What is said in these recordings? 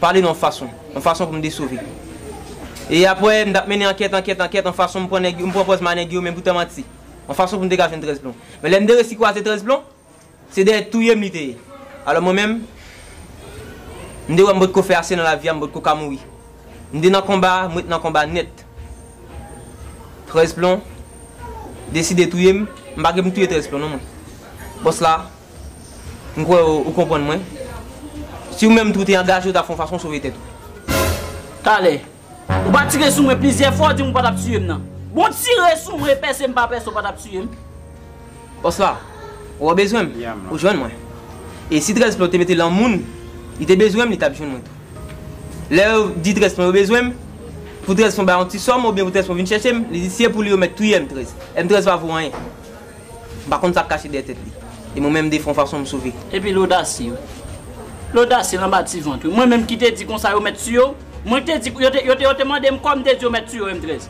pale nan yon fason, yon fason pou m te sove. E apre, m t ap mennen ankèt, ankèt, ankèt, yon fason m pran nèg yo, m pran pòz ma nèg yo men pou te manti. Yon fason pou m te ka jwenn 13 plon. Men lè m te resi kwaze 13 plon, se dèyè touye m li te ye. Alò mwen menm, m te wè m potko fè ase nan lavi a, m potko ka mouri. M te nan konba, m ret nan konba nèt. 13 plon deside touye m, m pa gen pou m touye 13 plon non mwen. Bòs la. M kwè ou konprann mwen. Si ou menm tou ou te angaje ou ta fè yon fason sove tèt ou. Talè. Ou pa tire sou mwen plizyè fwa ou di m ou pa tap tiye m nan. Bon w tire sou mwen pèse m pa pèse ou pa tap tiye m. Bòs la. Ou an bezwen m. Ou jwenn mwen. E si 13 plan ou te mete lan moun li te bezwen m li tap jwenn mwen tou. Lè yo di 13 plan yo bezwen m pou 13 plan bay yon ti sòm oubyen pou 13 plan vin chèche m li di si e pou li yo mèt touye m 13. M 13 pa vo anyen. M pa konn sa k kache dèyè tèt li. E mwen menm defen w fason m sove. Epi l odasye wi. L odasye l anba ti vant wi. Mwen menm ki te di konsa yo mèt tiye w. Mwen k te di yo te yo te mande m kòm m te di yo mèt tiye w M. 13.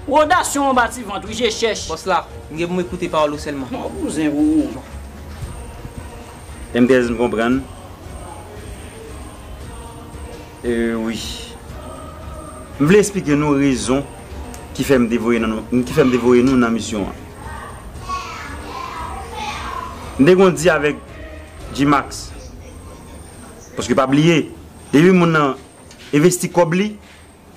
Ou odasye w anba ti vant wi je chèch. Bòs la, m gen pou m ekoute pawòl ou sèlman. Bon bouzen pou ou. M. 13 m konprann. Euu wi. M vle esplike nou rezon ki fè m te voye nou ki fè m te voye nou nan misyon an. M te konn di avèk Gmax, paske pa bliye depi moun nan envesti kòb li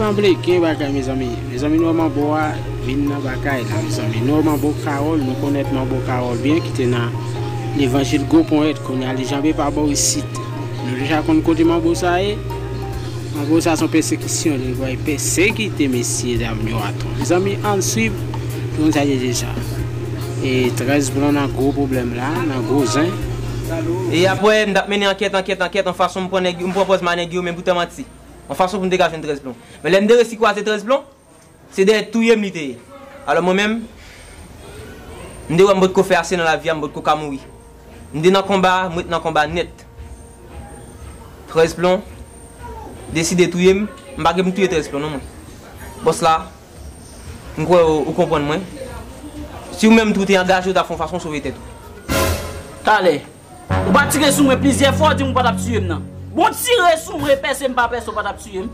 Sanble gen bagay mezanmi. Mezanmi nou wè manbo a vin nan bagay la mezanmi. Nou wè manbo Carole, nou konèt manbo Carole byen ki te nan levanjil gwo ponyèt kounye a li janbe pa bò isit. Nou deja konn kote manbo sa ye. Manbo sa son pèsekisyon li voye pèsekite mesye dam yo atò. Mezanmi ann swiv pou nou ta de deja. E 13 pran nan gwo pwoblèm la, nan gwo zen. E apwè, m t ap mennen ankèt, ankèt, ankèt, on fason m pran nèg yo, m pran pòz ma nèg yo, men pou te manti. On fason pou m te ka jwenn 13 plon. Men lè m te resi kwaze 13 plon, se dèyè touye m li te ye. Alò mwen menm, m te wè m pot ko fè ase nan lavi a, m pot ko ka mouri. M te nan konba, m ret nan konba nèt. 13 plon, deside touye m, m pa gen pou m touye 13 plon non mwen. Bòs la. M kwè ou konprann mwen. Si ou menm tou te angaje ou ta fè yon fason sove tèt ou. Talè. Ou pa tire sou mwen plizyè fwa ou di m ou pa tap tiye m nan. Bon w tire sou mwen pèse m pa pèse ou pa tap tiye m.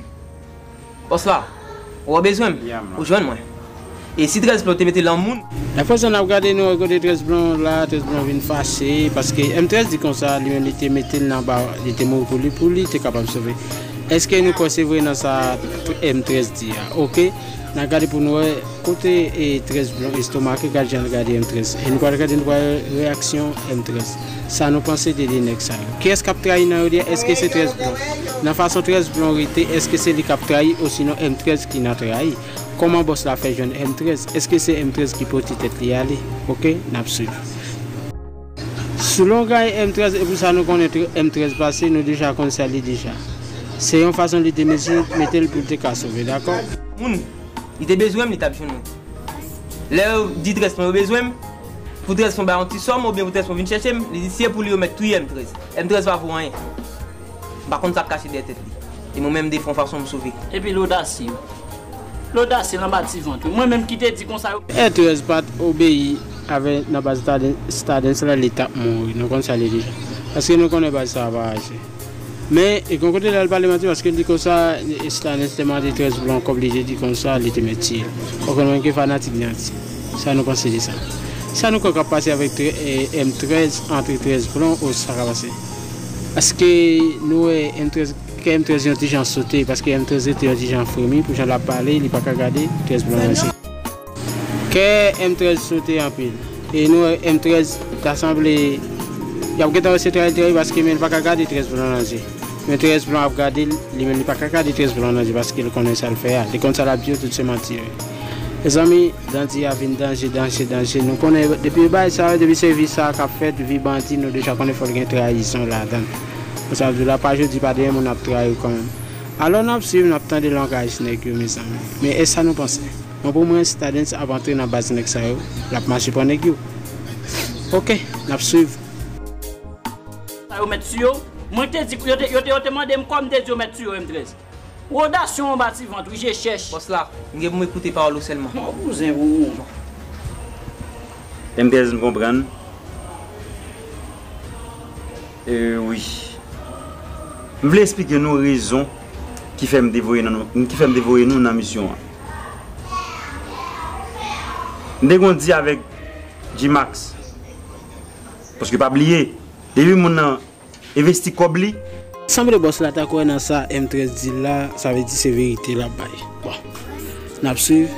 Bòs la. Ou wè bezwen m. Ou jwenn mwen. E si 13 plon te mete lan moun. Aprè sa nap gade nou wè kote 13 plon la 13 plon vin fache paske M13 di konsa li menm li te mete l nan ba li te mouri pou li pou li te kapab sove. Eske nou kwè se vre nan sa M. 13 di a? Ok na gade pou nou wè kote e 13 blon estomake gad jan l gade M. 13 e nou pral gade nou pral wè reyaksyon M. 13 sa nou panse de 2 nèg sa yo? Kiyès kap trayi nan yo 2 a eske se 13 blon? Nan fason 13 blon rete eske se li kap trayi osinon M. 13 ki nan trayi? Kòman bòs la fè jwenn M. 13? Eske se M. 13 ki pote tèt li ale? Ok nap swiv. Selon Guy M. 13 e pou sa nou konnen M. 13 pase nou deja konn sa li deja. Se yon fason li te mete mete l pou l te ka sove. Dakò? Moun. Li te bezwen m li t ap jwenn mwen. Lè yo di 13 pwen yo bezwen m, pou 13 pwen bay yon ti sòm oubyen pou 13 pwen vin chèche m, li di si e pou li yo mèt touye M. 13. M. 13 pa vo anyen. M pa konn sa k kache dèyè tèt li. E mwen menm defon fason m sove. Epi lodasye. Lodasye l anba ti vant ou. Mwen menm ki te di konsa yo. Etrèz pa t obeyi avè nan baz Stadens la li t ap mouri. Nou konn sa li di. Paske nou konnen baz sa a pa aji. Men, gen yon kote l al pale manti paske l di konsa Stadens te mande Etrèz pou l an kòb li te di konsa li te mèt tiye l. Ou konn mwen ki fanatik Nandy. Sa nou panse de sa? Sa nou kwè k ap pase avèk M13 antre Etrèz Plon ou sa k ap pase? Paske nou wè M13, kè M13 yon ti jan sote, paske M13 rete yon ti jan fremi pou jan l ap pale, li pa ka gade M13 blan ranse. Kè M13 sote anpil, e nou wè M13 ta sanble y ap gentan wese trayil trayil paske men l pa ka gade M13 blan nan je. Men M13 blan ap gade l, li menm li pa ka gade M13 blan nan je paske l konnen sa l fè a, li konn sa l ap di yo tout se manti yo ye. Mezanmi Dandi a vin danje danje danje nou konnen depi bay sa yo depi se vi sa kap fèt vi bandi nou deja konnen fòl gen trayizon ladann bon sa vle la pa jodi pa demen moun ap trayiw kanmenm alò nap swiv nap tande langaj nèg yo mezanmi men esa nou panse mwen pou mwen stadens ap antre nan baz nèg sa yo lap mache pran nèg yo ok nap swiv. Sa yo mèt su yo? Mwen te di pou yo te yo te yo te mandem kòm m te di yo mèt su yo M13. Roda son anba ti vant wi je chèch. Boss la, m gen pou m ekoute pawòl ou sèlman. M'en bouzen pou ou. Mknpnzn konprann euh wi. M vle esplike nou rezon ki fè m te voye nan nou ki fè m te voye nou nan misyon an. M te konn di avèk Gmax paske pa bliye depi moun nan Investi kob li. Sanble boss la ta kwè nan sa M13 di la sa vle di se verite lap bay bon nap swiv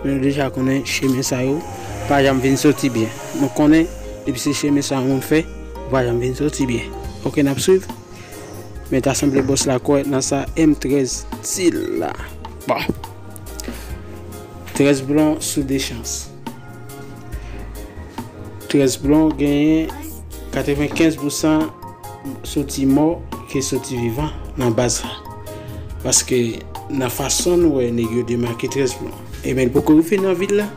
men nou deja konnen chemen sa yo pa janm vin soti byen nou konnen depi se chemen sa yon moun fè ou pa janm vin soti byen ok nap swiv men ta sanble boss la kwè nan sa M13 di la bon 13 blon sou 2 chans. Tres Blon genyen 95 pousan soti mò ke soti vivan nan baz la. Paske nan fason nou wè neg yo demake Tres Blon. E men poko rive nan vil la,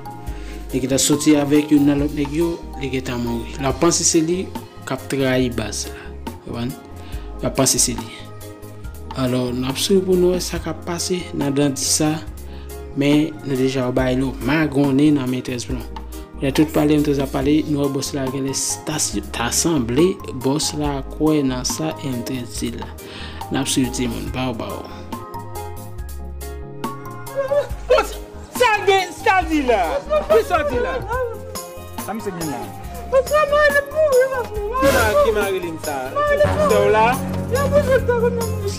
li gentan soti avèk youn nan lòt neg yo, li gentan mouri. Lap panse se li kap trayi baz la. Ou konprann? Lap panse se li. Alò nou ap swiv pou nou wè sa k ap pase nan dandi sa men nou deja ou bay nou magonnen nan men trèz plon lè tout pale men trèz ap pale nou wè bòs la genlè ta sanble bòs la kwè nan sa men trèz di la n ap swiv timoun baw baw. Sa gen sa di la. Kisa w di la. Sa misye gen la. Oswa Marilyn mouri paske Marilyn mouri. Ki Marilyn sa. Sè w la. Vye bouzen ki ta konn nan Minch.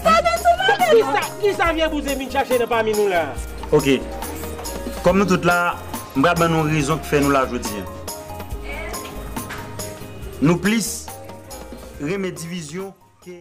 Sa gen sou Marilyn. Kisa vye bouzen vin chache nan pami nou la. Ok. Kòm nou tout la. M pral ban nou rezon ki fè nou la jodi an. Nou plis renmen divizyon ke.